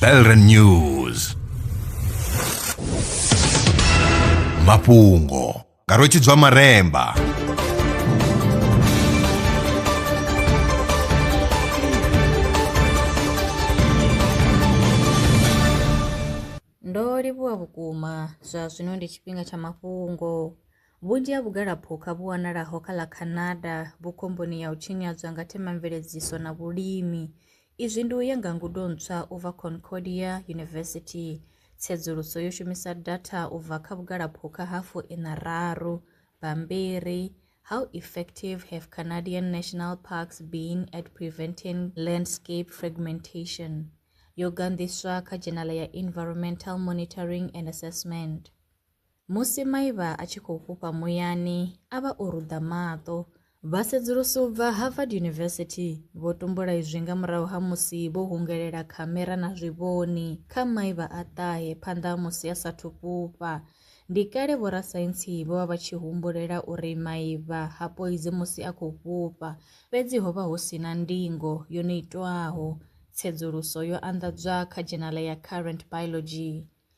Belren News mafhungo nga rwetshidzwa maremba Ndo livhuwa vhukuma zwa zwino ndi tshifhinga tsha mafhungo. Vhunzhi ha vhugalaphukha vhu wanalaho kha ḽa Canada vhu khomboni ya u tshinyadzwa nga themamveledziso na vhulimi. Izwi ndi u ya nga ngudo ntswa u bva Concordia University. Tsedzuluso yo shumisa datha u bva kha vhugalaphukha ha fu ina raru, bammbiri, How effective have Canadian national parks been at preventing landscape fragmentation? yo ganḓiswa kha dzhenala ya Environmental Monitoring and Assessment. Musi maivha a tshi khou fhufha muyani, a vha o ruḓa maṱo. Vhasedzulusi u bva Harvard University vho tumbula izwi nga murahu ha musi vho hungelela khamera na zwivhoni kha maivha a ṱahe phanḓa ha musi a sathu fhufha. Ndi kale vhorasaintsi vho vha vha tshi humbulela uri maivha ha poidzi musi a khou fhufha, fhedzi ho vha hu si na ndingo yo no itwaho. Tsedzuluso yo anḓadzwa kha dzhenala ya Current Biology.